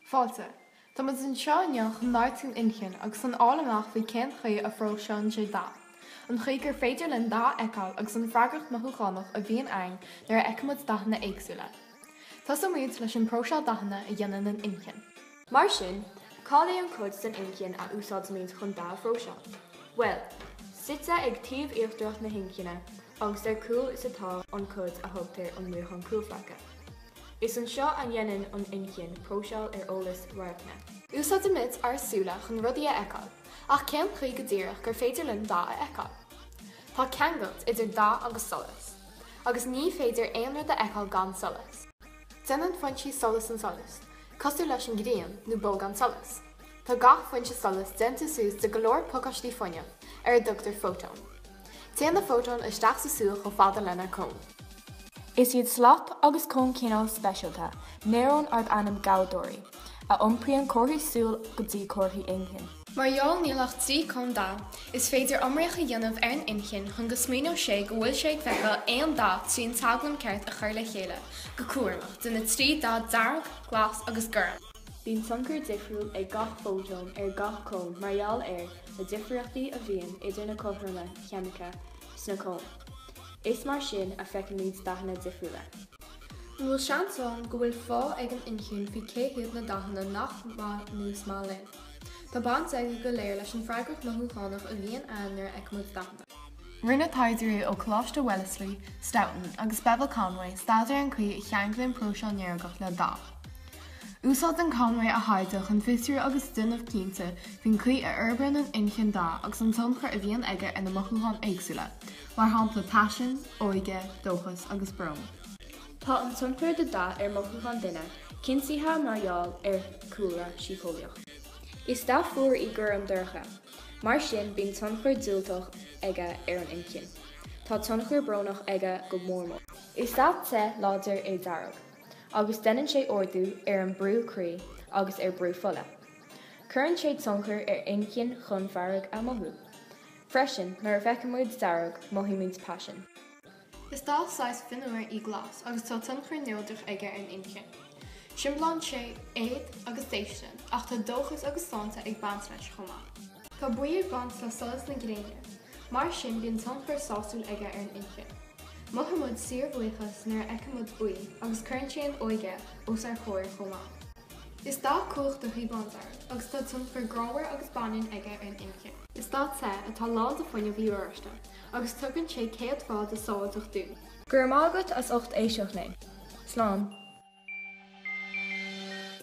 Fáilte. Tá muid anseo inniu chun labhairt faoin inchinn agus chun fháil amach cén chaoi a phróiseálann sé dath, an chaoi gur féidir linn dath a fheiceáil agus an freagracht mhothúchánach a bhíonn ann nuair a fheicimid dathanna éagsúla. Tosóimid leis an bpróiseáil dathanna a dhéanann an inchinn. Mar sin, cad é an cuid den inchinn a úsáidimid chun dath a phróiseáil? Bhuel, suite ag taobh íochtarach na hinchinne agus ar cúl is atá an cuid a thugtar an maothán cúlphlaice. Is anseo a dhéanann an inchinn próiseáil ar eolas radhairce. Úsáidimid ár súile chun rudaí a fheiceáil, ach cén chaoi go díreach gur féidir linn dath a fheiceáil? Tá ceangal idir dath agus solas, agus ní féidir aon rud a fheiceáil gan solas. Déanann foinsí solais an solas, cosúil leis an ghrian nó bolgán solais. Tá gach foinse solais déanta suas de go leor pacáistí fuinneamh, ar a dtugtar fótóin. Téann na fótóin isteach sa súil chomh fada lenár gcón. Is iad slat agus cón cineál speisialta néarón arb ainm gabhdóirí, a iompraíonn comharthaí súl go dtí comharthaí inchinn. Mar gheall níl ach trí cón dath, is féidir draíocht a dhéanamh ar an inchinn chun go smaoineodh sé go bhfuil sé ag feiceáil aon dath trí an teaglaim ceart a chur le chéile go cúramach de na trí dath dearg, glas agus gorm. Bíonn tionchar difriúil ag gach fótón ar gach cón mar gheall ar na difríochtaí a bhíonn idir na cothroime cheimiceacha sna cóin. Is mar sin a fheicimid dathanna difriúla. An bhfuil seans ann go bhfuil fáth ag an inchinn faoi cé hiad na dathanna nach maith nó is maith linn? Tá baint aige go léir leis an freagracht mothúchánach a bhíonn ann nuair a fheicimid dathanna. Rinne taighdeoirí ó Choláiste Wellesley, Stoughton, agus Bevil Conway staidéar ar an chaoi a cheanglaíonn próiseáil néarach le dath. Úsáideann Conway a thaighde chun fiosrú agus déanamh cinnte faoin chaoi a fhorbraíonn an inchinn dath agus an tionchar a bhíonn aige ar na mothúcháin éagsúla, mar shampla paisean, óige, dóchas agus brón. Tá an tionchar de dath ar mothúcháin duine cinntithe mar gheall ar chúlra síceolaíoch. Is dath fuar í gorm dorcha, mar sin bíonn tionchar diúltach aige ar an inchinn. Tá tionchar brónach aige go mór mór. Is dath te láidir é dearg. agus déanann sé ardú ar an brú croí agus ar brú fola. Cuireann sé tionchar ar inchinn chun fearg a mhothú. Freisin, nuair a fheicimid dearg, mothaímid paisean. Is dath saghas fionnuar í glas agus tá tionchar neodrach aige ar an inchinn. Siomblaíonn sé éad agus déistin, ach tá dóchas agus sláinte ag baint leis chomh maith. Tá buí ag baint le solas na gréine, Mar sin bíonn tionchar sásúil aige ar an inchinn. Mothaímid síorbhuíochas nuair a fheicimid buí agus cuireann sé an óige os ár gcomhair chomh maith. Is dath cumhachtach í bándearg agus tá tionchar grámhar agus baineann aige ar an inchinn. Is dath te atá lán de fuinneamh í oráiste agus tugann sé céadfa de sábháilteacht dúinn. Go raibh maith agat as ucht éisteacht linn. Slán.